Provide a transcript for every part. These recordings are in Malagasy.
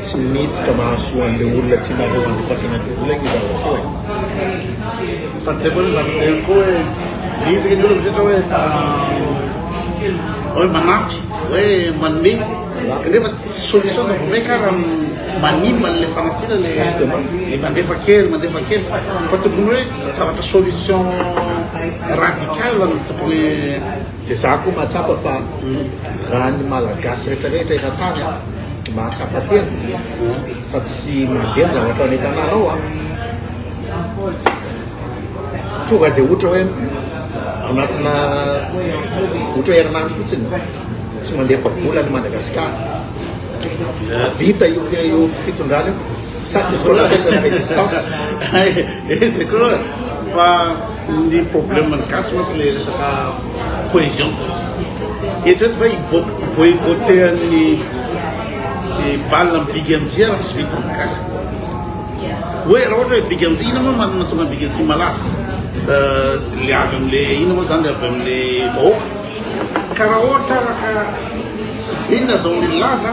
Tsy mety ka mahasoa an'ilay olona tianareo handefasana ny vola anie zany koa e! Sady zay koa aloha zany hoe koa hoe miezaka ny olona rehetra hoe hoe manampy hoe manome kanefa tsy solution zay vao may ka raha manimba an'ilay fanampiana le le mandefa kely mandefa kely fa tokony hoe zavatra solution radical no tokony Dia za koa mahatsapa fa raha ny Malagasy retraretra eran-tany an, mahatsapa tena fa tsy mandeha ny zavatra any an-tanànao an, tonga dia ohatra hoe anatina ohatra hoe herinandro fotsiny tsy mandefa vola ny Madagasikara, vita io fitondrana io. Ça c'est ce qu'on appelle la résistance. Eh, c'est quoi Fa ny problème ny gasy mantsy le resaka cohésion. Eritrereto fa hiboibotehan'ny balina amin'ny big MJ raha tsy vita ny gasy. Hoe raha ohatra hoe big MJ, ina moa manana tonga big MJ malaza? Euh, le avy amin'le ina moa zany le avy amin'le vahoaka. Ka raha ohatra araka izay ny azahoan'ny laza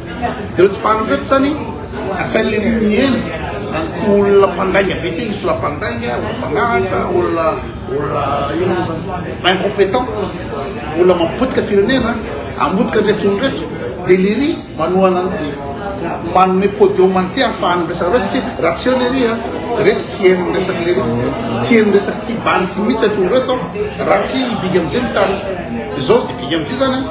Ireo tsy fanina ireo zany asain'ny lehibe miheno an'ity olona mpandainga be ity, misy olona mpandainga, olona mpangalatra, olona olona ino moa zany incompétent, olona mampotika firenena, hamotika an'ireto olona ireto, dia lery manohana an'ity manome podium an'ity hahafahany miresaka an'ireo satria raha tsy eo lery a, ireto tsy heno ny resaka lery, tsy heno ny resaka ity bandy ity mihitsy ity olona ireto raha tsy i Big MJ mitarika. Izao dia Big MJ zany a.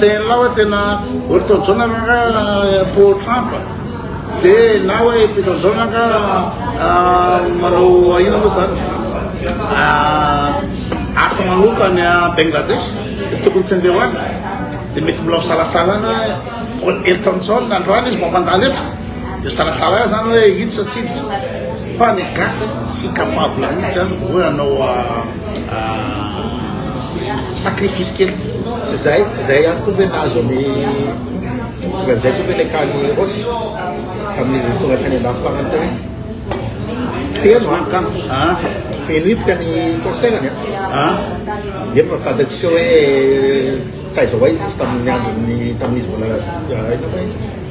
Dia ianao hoe tena Ortodjona angaha pro Trump? Dia na hoe Pitodjona angaha manao inona moa izany? Asa manomboka any Bengladesh, tokony tsy andeha ho any. Dia mety mbola misalasala any hoe Eltonson androany izy mampandalo eto. Dia misalasala any izany hoe hiditra tsy hiditra. Fa ny gasy tsy capable mihitsy hoe hanao sacrifice kely tsy zay tsy zay ihany koa ve nahazo ny tonga zay koa ve le kany rosy tamin'izy tonga tany an-dafiparany teo feno an ah. feno hipoka ny concertny a ah. nefa fantatsika hoe taiza ho aiza izy tamin'ny androny tamin'izy mbola ah,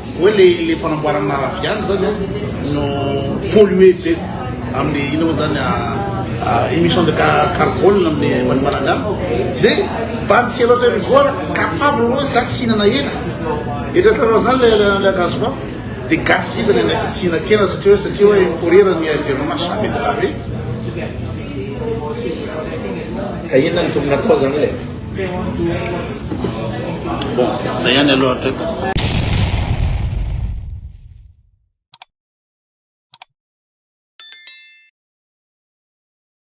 Oe le le fanamboarana raviany zany a no polluer be amle ino mo zany a emission de carbone amle manimbanana de badika loatra hoe migora capable hoe za tsy hinana hena eritreretanao zany le le gaz ba de gasy izy le ndraiky tsy hinan-kena satria hoe satria hoe pourrir ny environnement jamais de la vie ka inona no tokony atao zany le Bon, zay ihany aloha hatreto.